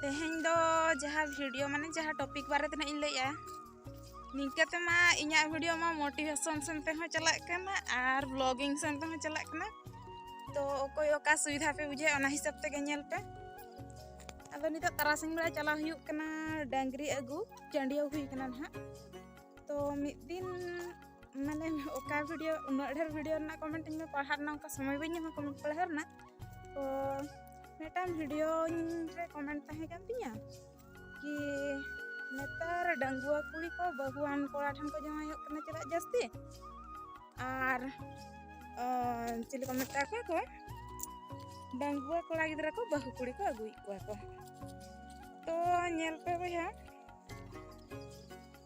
ᱛᱮᱦᱮᱧ ᱫᱚ ᱡᱟᱦᱟᱸ ᱵᱷᱤᱰᱤᱭᱳ ᱢᱟᱱᱮ ᱡᱟᱦᱟᱸ ᱴᱚᱯᱤᱠ ᱵᱟᱨᱮ ᱛᱮ ᱤᱧ ᱞᱟᱹᱭᱮᱜᱼᱟ ᱱᱤᱝᱠᱟᱹ ᱛᱮᱢᱟ ᱤᱧᱟᱹᱜ ᱵᱷᱤᱰᱤᱭᱳ ᱢᱟ ᱢᱳᱴᱤᱵᱷᱮᱥᱚᱱ ᱥᱮᱱ ᱛᱮᱦᱚᱸ ᱪᱟᱞᱟᱜ ᱠᱟᱱᱟ ᱟᱨ ᱵᱞᱚᱜᱤᱝ ᱥᱮᱱ ᱛᱮᱦᱚᱸ ᱪᱟᱞᱟᱜ ᱠᱟᱱᱟ ᱛᱚ ᱚᱠᱚᱭ ᱚᱠᱟ ᱥᱩᱵᱤᱫᱷᱟ ᱯᱮ ᱵᱩᱡᱷᱟᱹᱣᱟ ᱚᱱᱟ ᱦᱤᱥᱟᱹᱵ ᱛᱮᱜᱮ ᱧᱮᱞ ᱯᱮ ᱟᱫᱚ ᱱᱤᱛᱚᱜ ᱛᱟᱨᱟᱥᱤᱧ ᱵᱮᱲᱟ ᱪᱟᱞᱟᱣ ᱦᱩᱭᱩᱜ ᱠᱟᱱᱟ ᱰᱟᱝᱨᱤ ᱟᱹᱜᱩ ᱪᱟᱹᱰᱤᱭᱟᱹᱣ ᱦᱩᱭ ᱠᱟᱱᱟ ᱱᱟᱦᱟᱜ ᱛᱚ ᱢᱤᱫ ᱫᱤᱱ ᱢᱟᱱᱮ ᱚᱠᱟ ᱵᱷᱤᱰᱤᱭᱳ ᱩᱱᱟᱹᱜ ᱰᱷᱮᱨ ᱵᱷᱤᱰᱤᱭᱳ ᱨᱮᱱᱟᱜ ᱠᱚᱢᱮᱱᱴ ᱤᱧ ᱯᱟᱲᱦᱟᱣ ᱨᱮᱱᱟᱜ ᱚᱱᱠᱟ ᱥᱚᱢᱚᱭ ᱵᱟᱹᱧ ᱧᱟᱢᱟ ᱠᱚᱢᱮᱱᱴ ᱯᱟᱲᱦᱟᱣ ᱨᱮᱱᱟᱜ ᱛᱚ ᱢᱤᱫᱴᱟᱝ ᱵᱷᱤᱰᱤᱭᱳ ᱨᱮ ᱠᱚᱢᱮᱱᱴ ᱛᱟᱦᱮᱸ ᱠᱟᱱ ᱛᱤᱧᱟᱹ ᱠᱤ ᱱᱮᱛᱟᱨ ᱰᱟᱺᱜᱩᱣᱟᱹ ᱠᱩᱲᱤ ᱠᱚ ᱵᱟᱹᱦᱩᱣᱟᱱ ᱠᱚᱲᱟ ᱴᱷᱮᱱ ᱠᱚ ᱡᱟᱶᱟᱭᱚᱜ ᱠᱟᱱᱟ ᱪᱮᱫᱟᱜ ᱡᱟᱹᱥᱛᱤ ᱟᱨ ᱪᱤᱞᱤ ᱠᱚ ᱢᱮᱛᱟ ᱠᱚᱣᱟ ᱠᱚ ᱰᱟᱺᱜᱩᱣᱟᱹ ᱠᱚᱲᱟ ᱜᱤᱫᱽᱨᱟᱹ ᱠᱚ ᱵᱟᱹᱦᱩ ᱠᱩᱲᱤ ᱠᱚ ᱟᱹᱜᱩᱭᱮᱫ ᱠᱚᱣᱟ ᱠᱚ ᱛᱚ ᱧᱮᱞ ᱯᱮ ᱵᱚᱭᱦᱟ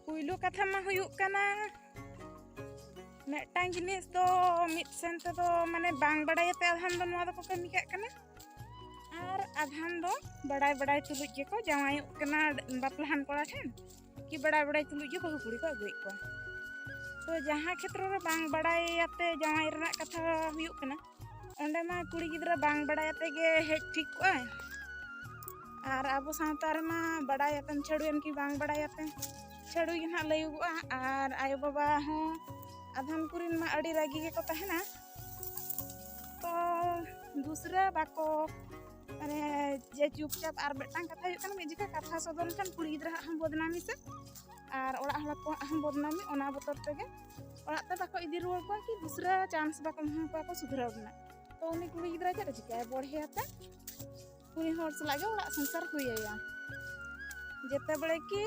ᱯᱩᱭᱞᱩ ᱠᱟᱛᱷᱟ ᱢᱟ ᱦᱩᱭᱩᱜ ᱠᱟᱱᱟ ᱢᱤᱫᱴᱟᱝ ᱡᱤᱱᱤᱥ ᱫᱚ ᱢᱤᱫ ᱥᱮᱱ ᱛᱮᱫᱚ ᱢᱟᱱᱮ ᱵᱟᱝ ᱵᱟᱲᱟᱭᱟᱛᱮ ᱟᱫᱷᱟᱱ ᱫᱚ ᱱᱚᱣᱟ ᱫᱚᱠᱚ ᱠᱟᱹᱢᱤ ᱠᱟᱜ ᱠᱟᱱᱟ ᱟᱨ ᱟᱫᱷᱟᱱ ᱫᱚ ᱵᱟᱲᱟᱭ ᱵᱟᱲᱟᱭ ᱛᱩᱞᱩᱡ ᱜᱮᱠᱚ ᱡᱟᱶᱟᱭᱚᱜ ᱠᱟᱱᱟ ᱵᱟᱯᱞᱟᱦᱟᱱ ᱠᱚᱲᱟ ᱴᱷᱮᱱ ᱠᱤ ᱵᱟᱲᱟᱭ ᱵᱟᱲᱟᱭ ᱛᱩᱞᱩᱡ ᱜᱮ ᱵᱟᱹᱦᱩ ᱠᱩᱲᱤ ᱠᱚ ᱟᱹᱜᱩᱭᱮᱫ ᱠᱚᱣᱟ ᱛᱚ ᱡᱟᱦᱟᱸ ᱠᱷᱮᱛᱨᱚ ᱨᱮ ᱵᱟᱝ ᱵᱟᱲᱟᱭᱟᱛᱮ ᱡᱟᱶᱟᱭ ᱨᱮᱱᱟᱜ ᱠᱟᱛᱷᱟ ᱦᱩᱭᱩᱜ ᱠᱟᱱᱟ ᱚᱸᱰᱮ ᱢᱟ ᱠᱩᱲᱤ ᱜᱤᱫᱽᱨᱟᱹ ᱵᱟᱝ ᱵᱟᱲᱟᱭ ᱟᱛᱮ ᱜᱮ ᱦᱮᱡ ᱴᱷᱤᱠ ᱠᱚᱜᱼᱟᱭ ᱟᱨ ᱟᱵᱚ ᱥᱟᱶᱛᱟ ᱨᱮᱢᱟ ᱵᱟᱲᱟᱭ ᱟᱛᱮᱢ ᱪᱷᱟᱹᱲᱩᱭᱮᱱ ᱠᱤ ᱵᱟᱝ ᱵᱟᱲᱟᱭ ᱟᱛᱮ ᱪᱷᱟᱹᱲᱩᱭ ᱜᱮ ᱱᱟᱦᱟᱜ ᱞᱟᱹᱭᱚᱜᱚᱜᱼᱟ ᱟᱨ ᱟᱭᱳ ᱵᱟᱵᱟ ᱦᱚᱸ ᱟᱫᱷᱟᱱ ᱠᱚᱨᱮᱱ ᱢᱟ ᱟᱹᱰᱤ ᱨᱟᱹᱜᱤ ᱜᱮᱠᱚ ᱛᱟᱦᱮᱱᱟ ᱛᱚ ᱫᱩᱥᱨᱟᱹ ᱵᱟᱠᱚ ᱢᱟᱱᱮ ᱡᱮ ᱪᱩᱯᱪᱟᱯ ᱟᱨ ᱢᱤᱫᱴᱟᱝ ᱠᱟᱛᱷᱟ ᱦᱩᱭᱩᱜ ᱠᱟᱱᱟ ᱢᱤᱫ ᱡᱚᱠᱷᱟ ᱠᱟᱛᱷᱟ ᱥᱚᱫᱚᱨ ᱞᱮᱠᱷᱟᱱ ᱠᱩᱲᱤ ᱜᱤᱫᱽᱨᱟᱹ ᱦᱟᱸᱜ ᱦᱚᱸ ᱵᱚᱫᱱᱟᱢᱤ ᱥᱮ ᱟᱨ ᱚᱲᱟᱜ ᱦᱚᱲ ᱠᱚᱣᱟᱜ ᱦᱚᱸ ᱵᱚᱫᱱᱟᱢᱤ ᱚᱱᱟ ᱵᱚᱛᱚᱨ ᱛᱮᱜᱮ ᱚᱲᱟᱜ ᱛᱮ ᱵᱟᱠᱚ ᱤᱫᱤ ᱨᱩᱣᱟᱹᱲ ᱠᱚᱣᱟ ᱠᱤ ᱫᱩᱥᱨᱟ ᱪᱟᱱᱥ ᱵᱟᱠᱚ ᱮᱢᱟ ᱠᱚᱣᱟ ᱠᱚ ᱥᱩᱫᱷᱨᱟᱹᱣ ᱨᱮᱱᱟᱜ ᱛᱚ ᱩᱱᱤ ᱠᱩᱲᱤ ᱜᱤᱫᱽᱨᱟᱹ ᱪᱮᱫ ᱮ ᱪᱤᱠᱟᱹᱭᱟ ᱵᱚᱲᱦᱮ ᱟᱛᱮ ᱩᱱᱤ ᱦᱚᱲ ᱥᱟᱞᱟᱜ ᱜᱮ ᱚᱲᱟᱜ ᱥᱚᱝᱥᱟᱨ ᱦᱩᱭᱟᱭᱟ ᱡᱮᱛᱮ ᱵᱮᱲᱮ ᱠᱤ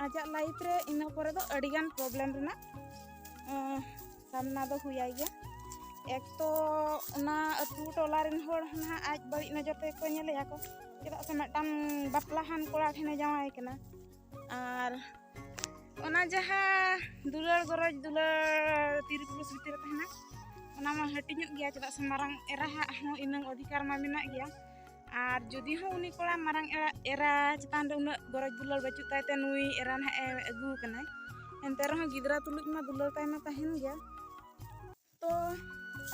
ᱟᱡᱟᱜ ᱞᱟᱭᱤᱯᱷ ᱨᱮ ᱤᱱᱟᱹ ᱯᱚᱨᱮ ᱫᱚ ᱟᱹᱰᱤ ᱜᱟᱱ ᱯᱨᱚᱵᱞᱮᱢ ᱨᱮᱱᱟᱜ ᱥᱟᱢᱱᱟ ᱫᱚ ᱦᱩᱭᱟᱭ ᱜᱮᱭᱟ ᱮᱠ ᱛᱚ ᱚᱱᱟ ᱟᱹᱛᱩ ᱴᱚᱞᱟ ᱨᱮᱱ ᱦᱚᱲ ᱱᱟᱦᱟᱜ ᱟᱡ ᱵᱟᱹᱲᱤᱡ ᱱᱚᱡᱚᱨ ᱛᱮᱠᱚ ᱧᱮᱞᱮᱭᱟ ᱠᱚ ᱪᱮᱫᱟᱜ ᱥᱮ ᱢᱤᱫᱴᱟᱝ ᱵᱟᱯᱞᱟᱦᱟᱱ ᱠᱚᱲᱟ ᱴᱷᱮᱱᱮ ᱡᱟᱶᱟᱭ ᱠᱟᱱᱟ ᱟᱨ ᱚᱱᱟ ᱡᱟᱦᱟᱸ ᱫᱩᱞᱟᱹᱲ ᱜᱚᱨᱚᱡᱽ ᱫᱩᱞᱟᱹᱲ ᱛᱤᱨᱤ ᱯᱩᱨᱩᱥ ᱵᱷᱤᱛᱤᱨ ᱛᱟᱦᱮᱱᱟ ᱚᱱᱟ ᱢᱟ ᱦᱟᱹᱴᱤᱧᱚᱜ ᱜᱮᱭᱟ ᱪᱮᱫᱟᱜ ᱥᱮ ᱢᱟᱨᱟᱝ ᱮᱨᱟᱦᱟᱜ ᱦᱚᱸ ᱤᱱᱟᱹᱝ ᱚᱫᱷᱤᱠᱟᱨ ᱢᱟ ᱢᱮᱱᱟᱜ ᱜᱮᱭᱟ ᱟᱨ ᱡᱩᱫᱤ ᱦᱚᱸ ᱩᱱᱤ ᱠᱚᱲᱟ ᱢᱟᱨᱟᱝ ᱮᱨᱟ ᱮᱨᱟ ᱪᱮᱛᱟᱱ ᱨᱮ ᱩᱱᱟᱹᱜ ᱜᱚᱨᱚᱡᱽ ᱫᱩᱞᱟᱹᱲ ᱵᱟᱹᱪᱩᱜ ᱛᱟᱭ ᱛᱮ ᱱᱩᱭ ᱮᱨᱟ ᱱᱟᱦᱟᱜ ᱮ ᱟᱹᱜᱩ ᱟᱠᱟᱱᱟᱭ ᱮᱱᱛᱮ ᱨᱮᱦᱚᱸ ᱜᱤᱫᱽᱨᱟᱹ ᱛᱩᱞᱩᱡ ᱢᱟ ᱫᱩᱞᱟᱹᱲ ᱛᱟᱭ ᱢᱟ ᱛᱟᱦᱮᱱ ᱜᱮᱭᱟ ᱛᱚ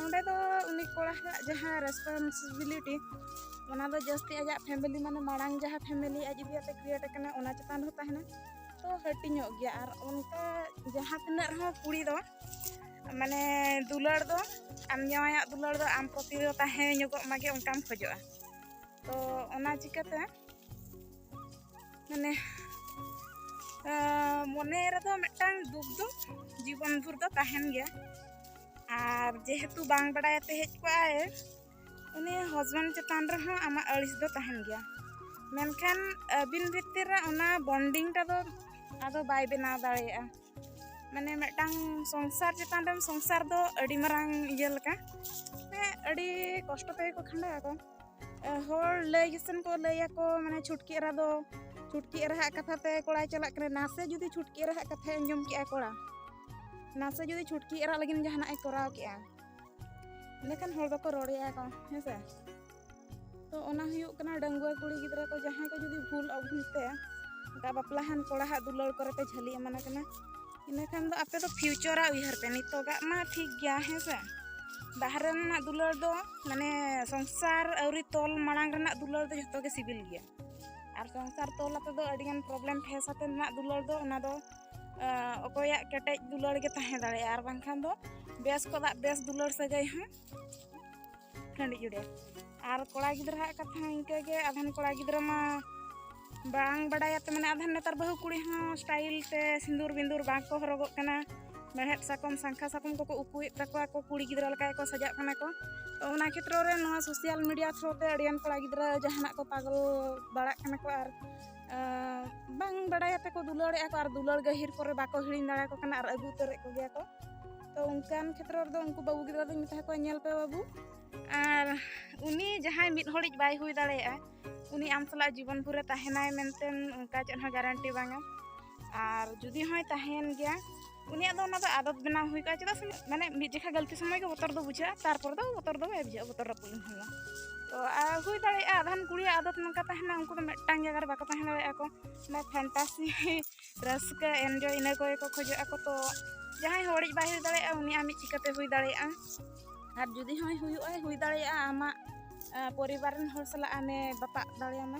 ᱚᱸᱰᱮ ᱫᱚ ᱩᱱᱤ ᱠᱚᱲᱟ ᱦᱟᱜ ᱡᱟᱦᱟᱸ ᱨᱮᱥᱯᱚᱱᱥᱤᱵᱤᱞᱤᱴᱤ ᱚᱱᱟ ᱫᱚ ᱡᱟᱹᱥᱛᱤ ᱟᱡᱟᱜ ᱯᱷᱮᱢᱮᱞᱤ ᱢᱟᱱᱮ ᱢᱟᱲᱟᱝ ᱡᱟᱦᱟᱸ ᱯᱷᱮᱢᱮᱞᱤ ᱟᱡ ᱤᱫᱤ ᱠᱟᱛᱮ ᱠᱨᱤᱭᱮᱴ ᱟᱠᱟᱱᱟ ᱚᱱᱟ ᱪᱮᱛᱟᱱ ᱨᱮᱦᱚᱸ ᱛᱟᱦᱮᱱᱟ ᱛᱚ ᱦᱟᱹᱴᱤᱧᱚᱜ ᱜᱮᱭᱟ ᱟᱨ ᱚᱱᱠᱟ ᱡᱟᱦᱟᱸ ᱛᱤᱱᱟᱹᱜ ᱨᱮᱦᱚᱸ ᱠᱩᱲᱤ ᱫᱚ ᱢᱟᱱᱮ ᱫᱩᱞᱟᱹᱲ ᱫᱚ ᱟᱢ ᱡᱟᱶᱟᱭᱟᱜ ᱫᱩᱞᱟᱹᱲ ᱫᱚ ᱟᱢ ᱯᱨᱚᱛᱤ ᱫᱚ ᱛᱟᱦᱮᱸ ᱧᱚᱜᱚᱜ ᱢᱟᱜᱮ ᱚᱱᱠᱟᱢ ᱠᱷᱚᱡᱚᱜᱼᱟ ᱛᱚ ᱚᱱᱟ ᱪᱤᱠᱟᱹᱛᱮ ᱢᱟᱱᱮ ᱢᱚᱱᱮ ᱨᱮᱫᱚ ᱢᱤᱫᱴᱟᱝ ᱫᱩᱠ ᱫᱚ ᱡᱤᱵᱚᱱ ᱵᱷᱳᱨ ᱫᱚ ᱛᱟᱦᱮᱱ ᱜᱮᱭᱟ ᱟᱨ ᱡᱮᱦᱮᱛᱩ ᱵᱟᱝ ᱵᱟᱲᱟᱭᱟᱛᱮ ᱦᱮᱡ ᱠᱚᱜᱼᱟᱭ ᱩᱱᱤ ᱦᱚᱥᱵᱮᱱᱰ ᱪᱮᱛᱟᱱ ᱨᱮᱦᱚᱸ ᱟᱢᱟᱜ ᱟᱹᱲᱤᱥ ᱫᱚ ᱛᱟᱦᱮᱱ ᱜᱮᱭᱟ ᱢᱮᱱᱠᱷᱟᱱ ᱟᱹᱵᱤᱱ ᱵᱷᱤᱛᱤᱨ ᱨᱮ ᱚᱱᱟ ᱵᱚᱱᱰᱤᱝᱴᱟ ᱫᱚ ᱟᱫᱚ ᱵᱟᱭ ᱵᱮᱱᱟᱣ ᱫᱟᱲᱮᱭᱟᱜᱼᱟ ᱢᱟᱱᱮ ᱢᱤᱫᱴᱟᱝ ᱥᱚᱝᱥᱟᱨ ᱪᱮᱛᱟᱱ ᱨᱮ ᱥᱚᱝᱥᱟᱨ ᱫᱚ ᱟᱹᱰᱤ ᱢᱟᱨᱟᱝ ᱤᱭᱟᱹ ᱞᱮᱠᱟ ᱢᱟᱱᱮ ᱟᱹᱰᱤ ᱠᱚᱥᱴᱚ ᱛᱮᱜᱮ ᱠᱚ ᱠᱷᱟᱸᱰᱟᱣ ᱟᱠᱚ ᱦᱚᱲ ᱞᱟᱹᱭ ᱜᱮᱥᱮᱱ ᱠᱚ ᱞᱟᱹᱭᱟᱠᱚ ᱢᱟᱱᱮ ᱪᱷᱩᱴᱠᱤ ᱮᱨᱟ ᱫᱚ ᱪᱷᱩᱴᱠᱤ ᱮᱨᱟᱦᱟᱜ ᱠᱟᱛᱷᱟ ᱛᱮ ᱠᱚᱲᱟᱭ ᱪᱟᱞᱟᱜ ᱠᱟᱱᱟ ᱱᱟᱥᱮ ᱡᱩᱫᱤ ᱪᱷᱩᱴᱠᱤ ᱮᱨᱟᱦᱟᱜ ᱠᱟᱛᱷᱟᱭ ᱟᱸᱡᱚᱢ ᱠᱮᱜᱼᱟ ᱠᱚᱲᱟ ᱱᱟᱥᱮ ᱡᱩᱫᱤ ᱪᱷᱩᱴᱠᱤ ᱮᱨᱟ ᱞᱟᱹᱜᱤᱫ ᱡᱟᱦᱟᱱᱟᱜ ᱮ ᱠᱚᱨᱟᱣ ᱠᱮᱜᱼᱟ ᱮᱸᱰᱮᱠᱷᱟᱱ ᱦᱚᱲ ᱫᱚᱠᱚ ᱨᱚᱲᱮᱭᱟ ᱠᱚ ᱦᱮᱸ ᱥᱮ ᱛᱚ ᱚᱱᱟ ᱦᱩᱭᱩᱜ ᱠᱟᱱᱟ ᱰᱟᱺᱜᱩᱣᱟᱹ ᱠᱩᱲᱤ ᱜᱤᱫᱽᱨᱟᱹ ᱠᱚ ᱡᱟᱦᱟᱸᱭ ᱠᱚ ᱡᱩᱫᱤ ᱵᱷᱩᱞ ᱚᱵᱷᱩᱞ ᱛᱮ ᱚᱱᱠᱟ ᱵᱟᱯᱞᱟᱦᱟᱱ ᱠᱚᱲᱟᱦᱟᱜ ᱫᱩᱞᱟᱹᱲ ᱠᱚᱨᱮ ᱯᱮ ᱡᱷᱟᱹᱞᱤ ᱮᱢᱟᱱ ᱠᱟᱱᱟ ᱤᱱᱟᱹ ᱠᱷᱟᱱ ᱫᱚ ᱟᱯᱮ ᱫᱚ ᱯᱷᱤᱭᱩᱪᱚᱨᱟᱜ ᱩᱭᱦᱟᱹᱨ ᱯᱮ ᱱᱤᱛᱚᱜᱟᱜ ᱢᱟ ᱴᱷᱤᱠ ᱜᱮᱭᱟ ᱦᱮᱸ ᱥᱮ ᱵᱟᱦᱨᱮ ᱨᱮᱱᱟᱜ ᱫᱩᱞᱟᱹᱲ ᱫᱚ ᱢᱟᱱᱮ ᱥᱚᱝᱥᱟᱨ ᱟᱹᱣᱨᱤ ᱛᱚᱞ ᱢᱟᱲᱟᱝ ᱨᱮᱱᱟᱜ ᱫᱩᱞᱟᱹᱲ ᱫᱚ ᱡᱚᱛᱚ ᱜᱮ ᱥᱤᱵᱤᱞ ᱜᱮᱭᱟ ᱟᱨ ᱥᱚᱝᱥᱟᱨ ᱛᱚᱞ ᱟᱛᱮ ᱫᱚ ᱟᱹᱰᱤᱜᱟᱱ ᱯᱨᱚᱵᱞᱮᱢ ᱯᱷᱮᱥ ᱟᱛᱮ ᱨᱮᱱᱟᱜ ᱫᱩᱞᱟᱹᱲ ᱫᱚ ᱚᱱᱟ ᱫᱚ ᱚᱠᱚᱭᱟᱜ ᱠᱮᱴᱮᱡ ᱫᱩᱞᱟᱹᱲ ᱜᱮ ᱛᱟᱦᱮᱸ ᱫᱟᱲᱮᱭᱟᱜᱼᱟ ᱟᱨ ᱵᱟᱝᱠᱷᱟᱱ ᱫᱚ ᱵᱮᱥ ᱠᱚᱫᱟᱜ ᱵᱮᱥ ᱫᱩᱞᱟᱹᱲ ᱥᱟᱹᱜᱟᱹᱭ ᱦᱚᱸ ᱴᱟᱺᱰᱤ ᱡᱩᱲᱮ ᱟᱨ ᱠᱚᱲᱟ ᱜᱤᱫᱽᱨᱟᱹ ᱦᱟᱜ ᱠᱟᱛᱷᱟ ᱦᱚᱸ ᱤᱱᱠᱟᱹ ᱜᱮ ᱟᱫᱷᱟᱱ ᱠᱚᱲᱟ ᱜᱤᱫᱽᱨᱟᱹ ᱢᱟ ᱵᱟᱝ ᱵᱟᱰᱟᱭᱟᱛᱮ ᱢᱟᱱᱮ ᱟᱫᱷᱟᱱ ᱱᱮᱛᱟᱨ ᱵᱟᱹᱦᱩ ᱠᱩᱲᱤ ᱦᱚᱸ ᱥᱴᱟᱭᱤᱞ ᱛᱮ ᱥᱤᱸᱫᱩᱨ ᱵᱤᱸᱫᱩᱨ ᱵᱟᱝ ᱠᱚ ᱦᱚᱨᱚᱜᱚᱜ ᱠᱟᱱᱟ ᱢᱮᱲᱦᱮᱫ ᱥᱟᱠᱚᱢ ᱥᱟᱝᱠᱷᱟ ᱥᱟᱠᱚᱢ ᱠᱚᱠᱚ ᱩᱠᱩᱭᱮᱫ ᱛᱟᱠᱚᱣᱟ ᱠᱚ ᱠᱩᱲᱤ ᱜᱤᱫᱽᱨᱟᱹ ᱞᱮᱠᱟ ᱜᱮᱠᱚ ᱥᱟᱡᱟᱜ ᱠᱟᱱᱟ ᱠᱚ ᱛᱚ ᱚᱱᱟ ᱠᱷᱮᱛᱨᱚ ᱨᱮ ᱱᱚᱣᱟ ᱥᱳᱥᱟᱞ ᱢᱤᱰᱤᱭᱟ ᱛᱷᱨᱩ ᱛᱮ ᱟᱹᱰᱤᱜᱟᱱ ᱠᱚᱲᱟ ᱜᱤᱫᱽᱨᱟᱹ ᱡᱟᱦᱟᱱᱟᱜ ᱠᱚ ᱯᱟᱜᱚᱞ ᱵᱟᱲᱟᱜ ᱠᱟᱱᱟ ᱠᱚ ᱟᱨ ᱵᱟᱝ ᱵᱟᱰᱟᱭᱟᱛᱮ ᱠᱚ ᱫᱩᱞᱟᱹᱲᱮᱜᱼᱟ ᱠᱚ ᱟᱨ ᱫᱩᱞᱟᱹᱲ ᱜᱟᱹᱦᱤᱨ ᱠᱚᱨᱮ ᱵᱟᱠᱚ ᱦᱤᱲᱤᱧ ᱫᱟᱲᱮᱭᱟᱠᱚ ᱠᱟᱱᱟ ᱟᱨ ᱟᱹᱜᱩ ᱩᱛᱟᱹᱨᱮᱫ ᱠᱚᱜᱮᱭᱟ ᱠᱚ ᱛᱚ ᱚᱱᱠᱟᱱ ᱠᱷᱮᱛᱨᱚ ᱨᱮᱫᱚ ᱩᱱᱠᱩ ᱵᱟᱹᱵᱩ ᱜᱤᱫᱽᱨᱟᱹ ᱫᱚᱧ ᱢᱮᱛᱟ ᱠᱚᱣᱟ ᱧᱮᱞ ᱯᱮ ᱵᱟᱹᱵᱩ ᱟᱨ ᱩᱱᱤ ᱡᱟᱦᱟᱸᱭ ᱢᱤᱫ ᱦᱚᱲᱤᱡ ᱵᱟᱭ ᱦᱩᱭ ᱫᱟᱲᱮᱭᱟᱜᱼᱟ ᱩᱱᱤ ᱟᱢ ᱥᱟᱞᱟᱜ ᱡᱤᱵᱚᱱ ᱵᱷᱳᱨᱮ ᱛᱟᱦᱮᱱᱟᱭ ᱢᱮᱱᱛᱮ ᱚᱱᱠᱟ ᱪᱮᱫ ᱦᱚᱸ ᱜᱟᱨᱮᱱᱴᱤ ᱵᱟᱝᱟ ᱟᱨ ᱡᱩᱫᱤ ᱦᱚᱸᱭ ᱛᱟᱦᱮᱱ ᱜᱮᱭᱟ ᱩᱱᱤᱭᱟᱜ ᱫᱚ ᱚᱱᱟ ᱫᱚ ᱟᱫᱚᱛ ᱵᱮᱱᱟᱣ ᱦᱩᱭ ᱠᱚᱜᱼᱟ ᱪᱮᱫᱟᱜ ᱥᱮ ᱢᱟᱱᱮ ᱢᱤᱫ ᱡᱮᱠᱷᱟ ᱜᱟᱹᱞᱛᱤ ᱥᱚᱢᱚᱭ ᱜᱮ ᱵᱚᱛᱚᱨ ᱫᱚ ᱵᱩᱡᱷᱟᱹᱜᱼᱟ ᱛᱟᱨᱯᱚᱨ ᱫᱚ ᱵᱚᱛᱚᱨ ᱫᱚ ᱵᱟᱭ ᱵᱩᱡᱷᱟᱹᱜᱼᱟ ᱵᱚᱛᱚᱨ ᱨᱟᱹᱯᱩᱫ ᱞᱮᱱᱠᱷᱟᱱ ᱫᱚ ᱛᱚ ᱟᱨ ᱦᱩᱭ ᱫᱟᱲᱮᱭᱟᱜᱼᱟ ᱟᱫᱷᱟᱱ ᱠᱩᱲᱤᱭᱟᱜ ᱟᱫᱚᱛ ᱱᱚᱝᱠᱟ ᱛᱟᱦᱮᱱᱟ ᱩᱱᱠᱩ ᱫᱚ ᱢᱤᱫᱴᱟᱝ ᱡᱟᱭᱜᱟ ᱨᱮ ᱵᱟᱠᱚ ᱛᱟᱦᱮᱸ ᱫᱟᱲᱮᱭᱟᱜᱼᱟ ᱠᱚ ᱚᱱᱟ ᱯᱷᱮᱱᱴᱟᱥᱤ ᱨᱟᱹᱥᱠᱟᱹ ᱮᱱᱡᱚᱭ ᱤᱱᱟᱹ ᱠᱚᱜᱮ ᱠᱚ ᱠᱷᱚᱡᱚᱜ ᱟᱠᱚ ᱛᱚ ᱡᱟᱦᱟᱸᱭ ᱦᱚᱲᱤᱡ ᱵᱟᱭ ᱦᱩᱭ ᱫᱟᱲᱮᱭᱟᱜᱼᱟ ᱩᱱᱤ ᱟᱢᱤᱡ ᱪᱤᱠᱟᱹᱛᱮ ᱦᱩᱭ ᱫᱟᱲᱮᱭᱟᱜᱼᱟ ᱟᱨ ᱡᱩᱫᱤ ᱦᱚᱸᱭ ᱦᱩᱭᱩᱜᱼᱟ ᱦᱩᱭ ᱫᱟᱲᱮᱭᱟᱜᱼᱟ ᱟᱢᱟᱜ ᱯᱚᱨᱤᱵᱟᱨ ᱨᱮᱱ ᱦᱚᱲ ᱥᱟᱞᱟᱜ ᱟᱢᱮ ᱵᱟᱯᱟᱜ ᱫᱟᱲᱮᱭᱟᱢᱟ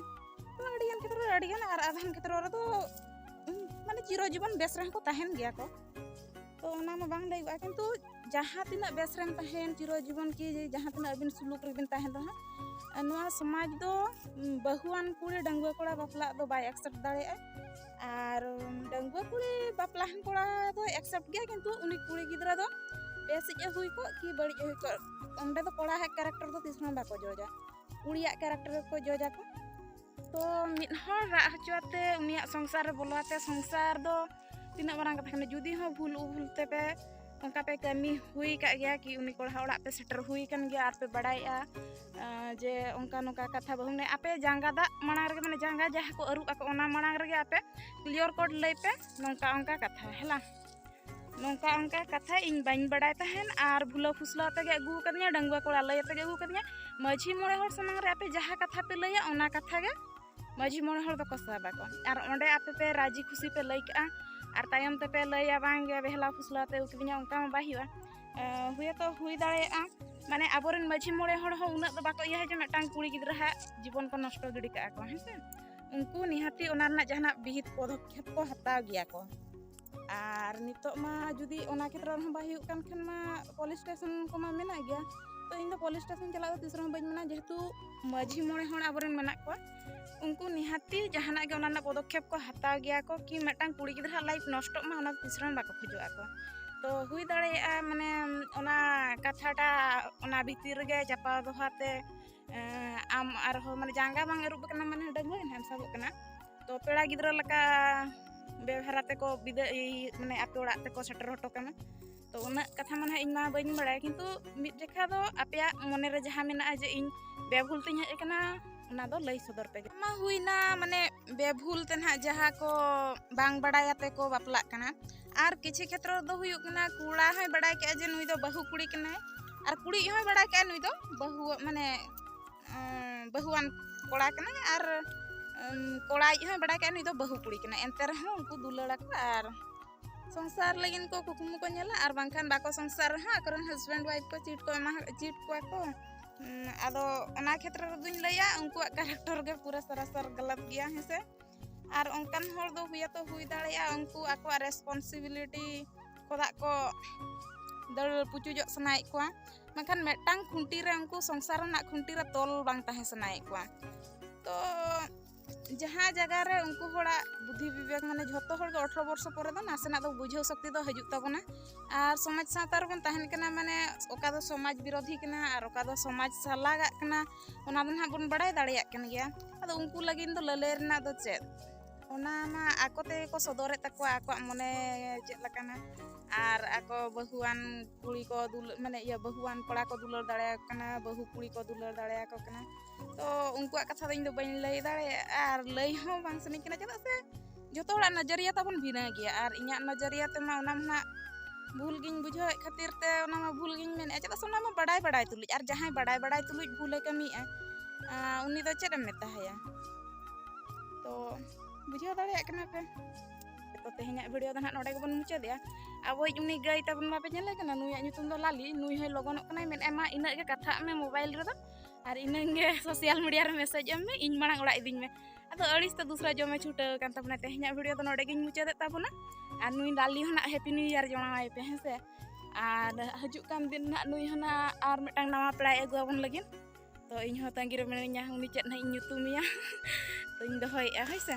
ᱛᱚ ᱟᱹᱰᱤᱜᱟᱱ ᱠᱷᱮᱛᱨᱚ ᱨᱮ ᱟᱹᱰᱤᱜᱟᱱ ᱟᱨ ᱟᱫᱷᱟᱱ ᱠᱷᱮᱛᱨᱚ ᱨᱮᱫᱚ ᱢᱟᱱᱮ ᱪᱤᱨᱚ ᱡᱤᱵᱚᱱ ᱵᱮᱥ ᱨᱮᱦᱚᱸ ᱠᱚ ᱛᱟᱦᱮᱱ ᱜᱮᱭᱟ ᱠᱚ ᱛᱚ ᱚᱱᱟ ᱢᱟ ᱵᱟᱝ ᱞᱟᱹᱭᱚᱜᱼᱟ ᱠᱤᱱᱛᱩ ᱡᱟᱦᱟᱸ ᱛᱤᱱᱟᱹᱜ ᱵᱮᱥ ᱨᱮᱢ ᱛᱟᱦᱮᱱ ᱪᱤᱨᱚ ᱡᱤᱵᱚᱱ ᱠᱤ ᱡᱟᱦᱟᱸ ᱛᱤᱱᱟᱹᱜ ᱟᱹᱵᱤᱱ ᱥᱩᱞᱩᱠ ᱨᱮᱵᱤᱱ ᱛᱟᱦᱮᱱ ᱨᱮᱦᱚᱸ ᱱᱚᱣᱟ ᱥᱚᱢᱟᱡᱽ ᱫᱚ ᱵᱟᱹᱦᱩᱣᱟᱱ ᱠᱩᱲᱤ ᱰᱟᱺᱜᱩᱣᱟᱹ ᱠᱚᱲᱟ ᱵᱟᱯᱞᱟᱜ ᱫᱚ ᱵᱟᱭ ᱮᱠᱥᱮᱯᱴ ᱫᱟᱲᱮᱭᱟᱜᱼᱟ ᱟᱨ ᱰᱟᱺᱜᱩᱣᱟᱹ ᱠᱩᱲᱤ ᱵᱟᱯᱞᱟᱦᱟᱱ ᱠᱚᱲᱟ ᱫᱚ ᱮᱠᱥᱮᱯᱴ ᱜᱮᱭᱟ ᱠᱤᱱᱛᱩ ᱩᱱᱤ ᱠᱩᱲᱤ ᱜᱤᱫᱽᱨᱟᱹ ᱫᱚ ᱵᱮᱥᱤᱡ ᱮ ᱦᱩᱭ ᱠᱚᱜ ᱠᱤ ᱵᱟᱹᱲᱤᱡ ᱮ ᱦᱩᱭ ᱠᱚᱜ ᱚᱸᱰᱮ ᱫᱚ ᱠᱚᱲᱟᱣᱟᱜ ᱠᱮᱨᱮᱠᱴᱟᱨ ᱫᱚ ᱛᱤᱥ ᱦᱚᱸ ᱵᱟᱠᱚ ᱡᱚᱡᱟ ᱠᱩᱲᱤᱭᱟᱜ ᱠᱮᱨᱮᱠᱴᱟᱨ ᱜᱮᱠᱚ ᱡᱚᱡᱟᱠᱚ ᱛᱚ ᱢᱤᱫ ᱦᱚᱲ ᱨᱟᱜ ᱦᱚᱪᱚ ᱟᱛᱮ ᱩᱱᱤᱭᱟᱜ ᱥᱚᱝᱥᱟᱨ ᱨᱮ ᱵᱚᱞᱚ ᱟᱛᱮ ᱥᱚᱝᱥᱟᱨ ᱫᱚ ᱛᱤᱱᱟᱹᱜ ᱢᱟᱨᱟᱝ ᱠᱟᱛᱷᱟ ᱠᱟᱱᱟ ᱡᱩᱫᱤ ᱦᱚᱸ ᱵᱷᱩᱞ ᱩᱵᱷᱩᱞ ᱛᱮᱯᱮ ᱚᱱᱠᱟ ᱯᱮ ᱠᱟᱹᱢᱤ ᱦᱩᱭ ᱠᱟᱜ ᱜᱮᱭᱟ ᱠᱤ ᱩᱱᱤ ᱠᱚᱲᱟ ᱚᱲᱟᱜ ᱯᱮ ᱥᱮᱴᱮᱨ ᱦᱩᱭ ᱠᱟᱱ ᱜᱮᱭᱟ ᱟᱨ ᱯᱮ ᱵᱟᱲᱟᱭᱮᱜᱼᱟ ᱡᱮ ᱚᱱᱠᱟ ᱱᱚᱝᱠᱟ ᱠᱟᱛᱷᱟ ᱵᱟᱹᱦᱩ ᱢᱟᱱᱮ ᱟᱯᱮ ᱡᱟᱸᱜᱟ ᱫᱟᱜ ᱢᱟᱲᱟᱝ ᱨᱮᱜᱮ ᱢᱟᱱᱮ ᱡᱟᱸᱜᱟ ᱡᱟᱦᱟᱸ ᱠᱚ ᱟᱹᱨᱩᱵ ᱟᱠᱚ ᱚᱱᱟ ᱢᱟᱲᱟᱝ ᱨᱮᱜᱮ ᱟᱯᱮ ᱠᱞᱤᱭᱟᱨ ᱠᱳᱰ ᱞᱟᱹᱭ ᱯᱮ ᱱᱚᱝᱠᱟ ᱚᱱᱠᱟ ᱠᱟᱛᱷᱟ ᱦᱮᱞᱟ ᱱᱚᱝᱠᱟ ᱚᱱᱠᱟ ᱠᱟᱛᱷᱟ ᱤᱧ ᱵᱟᱹᱧ ᱵᱟᱲᱟᱭ ᱛᱟᱦᱮᱱ ᱟᱨ ᱵᱷᱩᱞᱟᱹ ᱯᱷᱩᱥᱞᱟᱹ ᱟᱛᱮᱜᱮ ᱟᱹᱜᱩ ᱟᱠᱟᱫᱤᱧᱟ ᱰᱟᱺᱜᱩᱣᱟᱹ ᱠᱚᱲᱟ ᱞᱟᱹᱭ ᱟᱛᱮᱜᱮ ᱟᱹᱜᱩ ᱟᱠᱟᱫᱤᱧᱟ ᱢᱟᱹᱡᱷᱤ ᱢᱚᱬᱮ ᱦᱚᱲ ᱥᱟᱢᱟᱝ ᱨᱮ ᱟᱯᱮ ᱡᱟᱦᱟᱸ ᱠᱟᱛᱷᱟ ᱯᱮ ᱞᱟᱹᱭᱟ ᱚᱱᱟ ᱠᱟᱛᱷᱟ ᱜᱮ ᱢᱟᱹᱡᱷᱤ ᱢᱚᱬᱮ ᱦᱚᱲ ᱫᱚᱠᱚ ᱥᱟᱵᱟ ᱠᱚ ᱟᱨ ᱚᱸᱰᱮ ᱟᱯᱮ ᱯᱮ ᱨᱟᱡᱤ ᱠᱷᱩᱥᱤ ᱯᱮ ᱞᱟᱹᱭ ᱠᱟᱜᱼᱟ ᱟᱨ ᱛᱟᱭᱚᱢ ᱛᱮᱯᱮ ᱞᱟᱹᱭᱟ ᱵᱟᱝᱜᱮ ᱵᱮᱦᱞᱟ ᱯᱷᱩᱥᱞᱟᱹ ᱟᱛᱮ ᱟᱹᱜᱩ ᱠᱤᱫᱤᱧᱟ ᱚᱱᱠᱟ ᱢᱟ ᱵᱟᱭ ᱦᱩᱭᱩᱜᱼᱟ ᱦᱩᱭᱛᱚ ᱦᱩᱭ ᱫᱟᱲᱮᱭᱟᱜᱼᱟ ᱢᱟᱱᱮ ᱟᱵᱚᱨᱮᱱ ᱢᱟᱹᱡᱷᱤ ᱢᱚᱬᱮ ᱦᱚᱲ ᱦᱚᱸ ᱩᱱᱟᱹᱜ ᱫᱚ ᱵᱟᱠᱚ ᱤᱭᱟᱹ ᱡᱮ ᱢᱤᱫᱴᱟᱝ ᱠᱩᱲᱤ ᱜᱤᱫᱽᱨᱟᱹ ᱦᱟᱜ ᱡᱤᱵᱚᱱ ᱠᱚ ᱱᱚᱥᱴᱚ ᱜᱤᱰᱤ ᱠᱟᱜᱼᱟ ᱠᱚ ᱦᱮᱸᱥᱮ ᱩᱱᱠᱩ ᱱᱤᱦᱟᱹᱛᱤ ᱚᱱᱟ ᱨᱮᱱᱟᱜ ᱡᱟᱦᱟᱱᱟᱜ ᱵᱤᱦᱤᱛ ᱯᱚᱫᱚᱠᱷᱮᱯ ᱠᱚ ᱦᱟᱛᱟᱣ ᱜᱮᱭᱟ ᱠᱚ ᱟᱨ ᱱᱤᱛᱚᱜ ᱢᱟ ᱡᱩᱫᱤ ᱚᱱᱟ ᱠᱷᱮᱛᱨᱚ ᱨᱮᱦᱚᱸ ᱵᱟᱭ ᱦᱩᱭᱩᱜ ᱠᱟᱱ ᱠᱷᱟᱱ ᱢᱟ ᱯᱩᱞᱤᱥ ᱥᱴᱮᱥᱚᱱ ᱠᱚᱢᱟ ᱢᱮᱱᱟᱜ ᱜᱮᱭᱟ ᱛᱚ ᱤᱧ ᱫᱚ ᱯᱩᱞᱤᱥ ᱥᱴᱮᱥᱚᱱ ᱪᱟᱞᱟᱜ ᱫᱚ ᱛᱤᱥ ᱨᱮᱦᱚᱸ ᱵᱟᱹᱧ ᱢᱮᱱᱟ ᱡᱮᱦᱮᱛᱩ ᱢᱟᱹᱡᱷᱤ ᱢᱚᱬᱮ ᱦᱚᱲ ᱟᱵᱚᱨᱮᱱ ᱢᱮᱱᱟᱜ ᱠᱚᱣᱟ ᱩᱱᱠᱩ ᱱᱤᱦᱟᱹᱛᱤ ᱡᱟᱦᱟᱱᱟᱜ ᱜᱮ ᱚᱱᱟ ᱨᱮᱱᱟᱜ ᱯᱚᱫᱚᱠᱷᱮᱯ ᱠᱚ ᱦᱟᱛᱟᱣ ᱜᱮᱭᱟ ᱠᱚ ᱠᱤ ᱢᱤᱫᱴᱟᱝ ᱠᱩᱲᱤ ᱜᱤᱫᱽᱨᱟᱹ ᱞᱟᱭᱤᱯᱷ ᱱᱚᱥᱴᱚᱜ ᱢᱟ ᱚᱱᱟ ᱛᱤᱥ ᱨᱮᱦᱚᱸ ᱵᱟᱠᱚ ᱠᱷᱚᱡᱚᱜᱼᱟ ᱠᱚ ᱛᱚ ᱦᱩᱭ ᱫᱟᱲᱮᱭᱟᱜᱼᱟ ᱢᱟᱱᱮ ᱚᱱᱟ ᱠᱟᱛᱷᱟᱴᱟᱜ ᱚᱱᱟ ᱵᱷᱤᱛᱤᱨ ᱨᱮᱜᱮ ᱪᱟᱯᱟ ᱫᱚᱦᱟᱛᱮ ᱟᱢ ᱟᱨᱦᱚᱸ ᱢᱟᱱᱮ ᱡᱟᱸᱜᱟ ᱵᱟᱝ ᱟᱹᱨᱩᱵ ᱠᱟᱱᱟ ᱢᱟᱱᱮ ᱰᱟᱹᱝᱜᱩᱣᱟᱹ ᱜᱮ ᱱᱟᱦᱟᱜ ᱥᱟᱵᱚᱜ ᱠᱟᱱᱟ ᱛᱚ ᱯᱮᱲᱟ ᱜᱤᱫᱽᱨᱟᱹ ᱞᱮᱠᱟ ᱵᱮᱵᱷᱟᱨᱟ ᱛᱮᱠᱚ ᱵᱤᱫᱟᱹ ᱢᱟᱱᱮ ᱟᱯᱮ ᱚᱲᱟᱜ ᱛᱮᱠᱚ ᱥᱮᱴᱮᱨ ᱦᱚᱴᱚ ᱠᱟᱢᱟ ᱛᱚ ᱩᱱᱟᱹᱜ ᱠᱟᱛᱷᱟ ᱢᱟ ᱱᱟᱦᱟᱜ ᱤᱧ ᱢᱟ ᱵᱟᱹᱧ ᱵᱟᱲᱟᱭᱟ ᱠᱤᱱᱛᱩ ᱢᱤᱫ ᱡᱮᱠᱷᱟ ᱫᱚ ᱟᱯᱮᱭᱟᱜ ᱢᱚᱱᱮᱨᱮ ᱡᱟᱦᱟᱸ ᱢᱮᱱᱟᱜᱼᱟ ᱡᱮ ᱤᱧ ᱵᱮᱵᱷᱩᱞ ᱛᱤᱧ ᱦᱮᱡ ᱟᱠᱟᱱᱟ ᱚᱱᱟ ᱫᱚ ᱞᱟᱹᱭ ᱥᱚᱫᱚᱨ ᱯᱮ ᱢᱟ ᱦᱩᱭᱱᱟ ᱢᱟᱱᱮ ᱵᱮᱵᱷᱩᱞ ᱛᱮ ᱱᱟᱦᱟᱜ ᱡᱟᱦᱟᱸ ᱠᱚ ᱵᱟᱝ ᱵᱟᱲᱟᱭᱟᱛᱮ ᱠᱚ ᱵᱟᱯᱞᱟᱜ ᱠᱟᱱᱟ ᱟᱨ ᱠᱤᱪᱷᱩ ᱠᱷᱮᱛᱨᱚ ᱫᱚ ᱦᱩᱭᱩᱜ ᱠᱟᱱᱟ ᱠᱚᱲᱟ ᱦᱚᱸᱭ ᱵᱟᱲᱟᱭ ᱠᱮᱜᱼᱟ ᱡᱮ ᱱᱩᱭ ᱫᱚ ᱵᱟᱹᱦᱩ ᱠᱩᱲᱤ ᱠᱟᱱᱟᱭ ᱟᱨ ᱠᱩᱲᱤ ᱦᱚᱸᱭ ᱵᱟᱲᱟᱭ ᱠᱮᱜᱼᱟ ᱱᱩᱭ ᱫᱚ ᱵᱟᱹᱦᱩ ᱢᱟᱱᱮ ᱵᱟᱹᱦᱩᱣᱟᱱ ᱠᱚᱲᱟ ᱠᱟᱱᱟᱭ ᱟᱨ ᱠᱚᱲᱟ ᱤᱡ ᱦᱚᱸᱭ ᱵᱟᱲᱟᱭ ᱠᱮᱜᱼᱟ ᱱᱩᱭ ᱫᱚ ᱵᱟᱹᱦᱩ ᱠᱩᱲᱤ ᱠᱟᱱᱟᱭ ᱮᱱᱛᱮ ᱨᱮᱦᱚᱸ ᱩᱱᱠᱩ ᱫᱩᱞᱟᱹᱲᱟ ᱠᱚ ᱟᱨ ᱥᱚᱝᱥᱟᱨ ᱞᱟᱹᱜᱤᱫ ᱠᱚ ᱠᱩᱠᱢᱩ ᱠᱚ ᱧᱮᱞᱟ ᱟᱨ ᱵᱟᱝᱠᱷᱟᱱ ᱵᱟᱠᱚ ᱥᱚᱝᱥᱟᱨ ᱨᱮᱦᱚᱸ ᱟᱠᱚᱨᱮᱱ ᱦᱟᱥᱵᱮᱱᱰ ᱣᱟᱭᱤᱯ ᱠᱚ ᱪᱤᱴ ᱠᱚ ᱮᱢᱟ ᱪᱤᱴ ᱠᱚᱣᱟ ᱠᱚ ᱟᱫᱚ ᱚᱱᱟ ᱠᱷᱮᱛᱨᱮ ᱨᱮᱫᱚᱧ ᱞᱟᱹᱭᱟ ᱩᱱᱠᱩᱣᱟᱜ ᱠᱟᱨᱮᱠᱴᱚᱨ ᱜᱮ ᱯᱩᱨᱟᱹ ᱥᱟᱨᱟᱥᱟᱨ ᱜᱟᱞᱟᱛ ᱜᱮᱭᱟ ᱦᱮᱸ ᱥᱮ ᱟᱨ ᱚᱱᱠᱟᱱ ᱦᱚᱲ ᱫᱚ ᱦᱩᱭᱟᱛᱚ ᱦᱩᱭ ᱫᱟᱲᱮᱭᱟᱜᱼᱟ ᱩᱱᱠᱩ ᱟᱠᱚᱣᱟᱜ ᱨᱮᱥᱯᱚᱱᱥᱤᱵᱤᱞᱤᱴᱤ ᱠᱚᱫᱟᱜ ᱠᱚ ᱫᱟᱹᱲ ᱯᱩᱪᱩᱡᱚᱜ ᱥᱟᱱᱟᱭᱮᱫ ᱠᱚᱣᱟ ᱢᱮᱱᱠᱷᱟᱱ ᱢᱤᱫᱴᱟᱝ ᱠᱷᱩᱱᱴᱤ ᱨᱮ ᱩᱱᱠᱩ ᱥᱚᱝᱥᱟᱨ ᱨᱮᱱᱟᱜ ᱠᱷᱩᱱᱴᱤ ᱨᱮ ᱛᱚᱞ ᱵᱟᱝ ᱛᱟᱦᱮᱸ ᱥᱟᱱᱟᱭᱮᱫ ᱠᱚᱣᱟ ᱛᱚ ᱡᱟᱦᱟᱸ ᱡᱟᱭᱜᱟ ᱨᱮ ᱩᱱᱠᱩ ᱦᱚᱲᱟᱜ ᱵᱩᱫᱷᱤ ᱵᱤᱵᱮᱠ ᱢᱟᱱᱮ ᱡᱷᱚᱛᱚ ᱦᱚᱲ ᱜᱮ ᱚᱴᱷᱨᱚ ᱵᱚᱨᱥᱚ ᱯᱚᱨᱮ ᱫᱚ ᱱᱟᱥᱮᱱᱟᱜ ᱫᱚ ᱵᱩᱡᱷᱟᱹᱣ ᱥᱚᱠᱛᱤ ᱫᱚ ᱦᱤᱡᱩᱜ ᱛᱟᱵᱚᱱᱟ ᱟᱨ ᱥᱚᱢᱟᱡᱽ ᱥᱟᱶᱛᱟ ᱨᱮᱵᱚᱱ ᱛᱟᱦᱮᱱ ᱠᱟᱱᱟ ᱢᱟᱱᱮ ᱚᱠᱟ ᱫᱚ ᱥᱚᱢᱟᱡᱽ ᱵᱤᱨᱳᱫᱷᱤ ᱠᱟᱱᱟ ᱟᱨ ᱚᱠᱟ ᱫᱚ ᱥᱚᱢᱟᱡᱽ ᱥᱟᱞᱟᱜᱟᱜ ᱠᱟᱱᱟ ᱚᱱᱟ ᱫᱚ ᱱᱟᱦᱟᱜ ᱵᱚᱱ ᱵᱟᱲᱟᱭ ᱫᱟᱲᱮᱭᱟᱜ ᱠᱟᱱ ᱜᱮᱭᱟ ᱟᱫᱚ ᱩᱱᱠᱩ ᱞᱟᱹᱜᱤᱫ ᱫᱚ ᱞᱟᱹᱞᱟᱹᱭ ᱨᱮᱱᱟᱜ ᱫᱚ ᱪᱮᱫ ᱚᱱᱟ ᱢᱟ ᱟᱠᱚ ᱛᱮᱜᱮ ᱠᱚ ᱥᱚᱫᱚᱨᱮᱫ ᱛᱟᱠᱚᱣᱟ ᱟᱠᱚᱣᱟᱜ ᱢᱚᱱᱮ ᱪᱮᱫ ᱞᱮᱠᱟᱱᱟ ᱟᱨ ᱟᱠᱚ ᱵᱟᱹᱦᱩᱣᱟᱱ ᱠᱩᱲᱤ ᱠᱚ ᱫᱩᱞ ᱢᱟᱱᱮ ᱤᱭᱟᱹ ᱵᱟᱹᱦᱩᱣᱟᱱ ᱠᱚᱲᱟ ᱠᱚ ᱫᱩᱞᱟᱹᱲ ᱫᱟᱲᱮᱭᱟᱠᱚ ᱠᱟᱱᱟ ᱵᱟᱹᱦᱩ ᱠᱩᱲᱤ ᱠᱚ ᱫᱩᱞᱟᱹᱲ ᱫᱟᱲᱮᱭᱟᱠᱚ ᱠᱟᱱᱟ ᱛᱚ ᱩᱱᱠᱩᱣᱟᱜ ᱠᱟᱛᱷᱟ ᱫᱚ ᱤᱧ ᱫᱚ ᱵᱟᱹᱧ ᱞᱟᱹᱭ ᱫᱟᱲᱮᱭᱟᱜᱼᱟ ᱟᱨ ᱞᱟᱹᱭ ᱦᱚᱸ ᱵᱟᱝ ᱥᱟᱱᱟᱧ ᱠᱟᱱᱟ ᱪᱮᱫᱟᱜ ᱥᱮ ᱡᱚᱛᱚ ᱦᱚᱲᱟᱜ ᱱᱚᱡᱚᱨᱤᱭᱟ ᱛᱟᱵᱚᱱ ᱵᱷᱤᱱᱟᱹ ᱜᱮᱭᱟ ᱟᱨ ᱤᱧᱟᱹᱜ ᱱᱚᱡᱚᱨᱤᱭᱟ ᱛᱮᱢᱟ ᱚᱱᱟ ᱢᱟ ᱵᱷᱩᱞ ᱜᱤᱧ ᱵᱩᱡᱷᱟᱹᱣᱮᱫ ᱠᱷᱟᱹᱛᱤᱨ ᱛᱮ ᱚᱱᱟ ᱢᱟ ᱵᱷᱩᱞ ᱜᱤᱧ ᱢᱮᱱᱮᱫᱼᱟ ᱪᱮᱫᱟᱜ ᱥᱮ ᱚᱱᱟ ᱢᱟ ᱵᱟᱰᱟᱭ ᱵᱟᱰᱟᱭ ᱛᱩᱞᱩᱡ ᱟᱨ ᱡᱟᱦᱟᱸᱭ ᱵᱟᱰᱟᱭ ᱵᱟᱰᱟᱭ ᱛᱩᱞᱩᱡ ᱵᱷᱩᱞᱮ ᱠᱟᱹᱢᱤᱭᱮᱫᱼᱟ ᱩᱱᱤ ᱫᱚ ᱪᱮᱫ ᱮᱢ ᱢᱮᱛᱟᱭᱟ ᱛᱚ ᱵᱩᱡᱷᱟᱹᱣ ᱫᱟᱲᱮᱭᱟᱜ ᱠᱟᱱᱟ ᱯᱮ ᱛᱚ ᱛᱮᱦᱮᱧᱟᱜ ᱵᱷᱤᱰᱤᱭᱳ ᱫᱚ ᱱᱟᱦᱟᱜ ᱱᱚᱰᱮ ᱜᱮᱵᱚᱱ ᱢᱩᱪᱟᱹᱫᱮᱜᱼᱟ ᱟᱵᱚᱭᱤᱡ ᱩᱱᱤ ᱜᱟᱹᱭ ᱛᱟᱵᱚᱱ ᱢᱟᱯᱮ ᱧᱮᱞᱮ ᱠᱟᱱᱟ ᱱᱩᱭᱟᱜ ᱧᱩᱛᱩᱢ ᱫᱚ ᱞᱟᱞᱤ ᱱᱩᱭ ᱦᱚᱸᱭ ᱞᱚᱜᱚᱱᱚᱜ ᱠᱟᱱᱟᱭ ᱢᱮᱱᱮᱫᱼᱟᱭ ᱢᱟ ᱤᱱᱟᱹᱜ ᱜᱮ ᱠᱟᱛᱷᱟᱜ ᱢᱮ ᱢᱳᱵᱟᱭᱤᱞ ᱨᱮᱫᱚ ᱟᱨ ᱤᱱᱟᱹᱝ ᱜᱮ ᱥᱳᱥᱟᱞ ᱢᱤᱰᱤᱭᱟ ᱨᱮ ᱢᱮᱥᱮᱡᱽ ᱮᱢ ᱢᱮ ᱤᱧ ᱢᱟᱲᱟᱝ ᱚᱲᱟᱜ ᱤᱫᱤᱧ ᱢᱮ ᱟᱫᱚ ᱟᱹᱲᱤᱥ ᱛᱮ ᱫᱩᱥᱨᱟ ᱡᱚᱢᱮ ᱪᱷᱩᱴᱟᱹᱣ ᱟᱠᱟᱱ ᱛᱟᱵᱚᱱᱟ ᱛᱮᱦᱮᱧᱟᱜ ᱵᱷᱤᱰᱤᱭᱳ ᱫᱚ ᱱᱚᱰᱮ ᱜᱤᱧ ᱢᱩᱪᱟᱹᱫᱮᱫ ᱛᱟᱵᱚᱱᱟ ᱟᱨ ᱱᱩᱭ ᱞᱟᱞᱤ ᱦᱚᱸ ᱱᱟᱜ ᱦᱮᱯᱤ ᱱᱤᱭᱩ ᱤᱭᱟᱨ ᱡᱚᱲᱟᱣᱟᱭ ᱯᱮ ᱦᱮᱸ ᱥᱮ ᱟᱨ ᱦᱤᱡᱩᱜ ᱠᱟᱱ ᱫᱤᱱ ᱱᱟᱜ ᱱᱩᱭ ᱦᱚᱸ ᱱᱟᱜ ᱟᱨ ᱢᱤᱫᱴᱟᱝ ᱱᱟᱣᱟ ᱯᱮᱲᱟᱭ ᱟᱹᱜᱩ ᱟᱵᱚᱱ ᱞᱟᱹᱜᱤᱫ ᱛᱚ ᱤᱧ ᱦᱚᱸ ᱛᱟᱺᱜᱤ ᱨᱮ ᱢᱤᱱᱟᱹᱧᱟ ᱩᱱᱤ ᱪᱮᱫ ᱱᱟᱜ ᱤᱧ ᱧᱩᱛᱩᱢᱮᱭᱟ ᱛᱚᱧ ᱫᱚᱦᱚᱭᱮᱫᱼᱟ ᱦᱳᱭ ᱥᱮ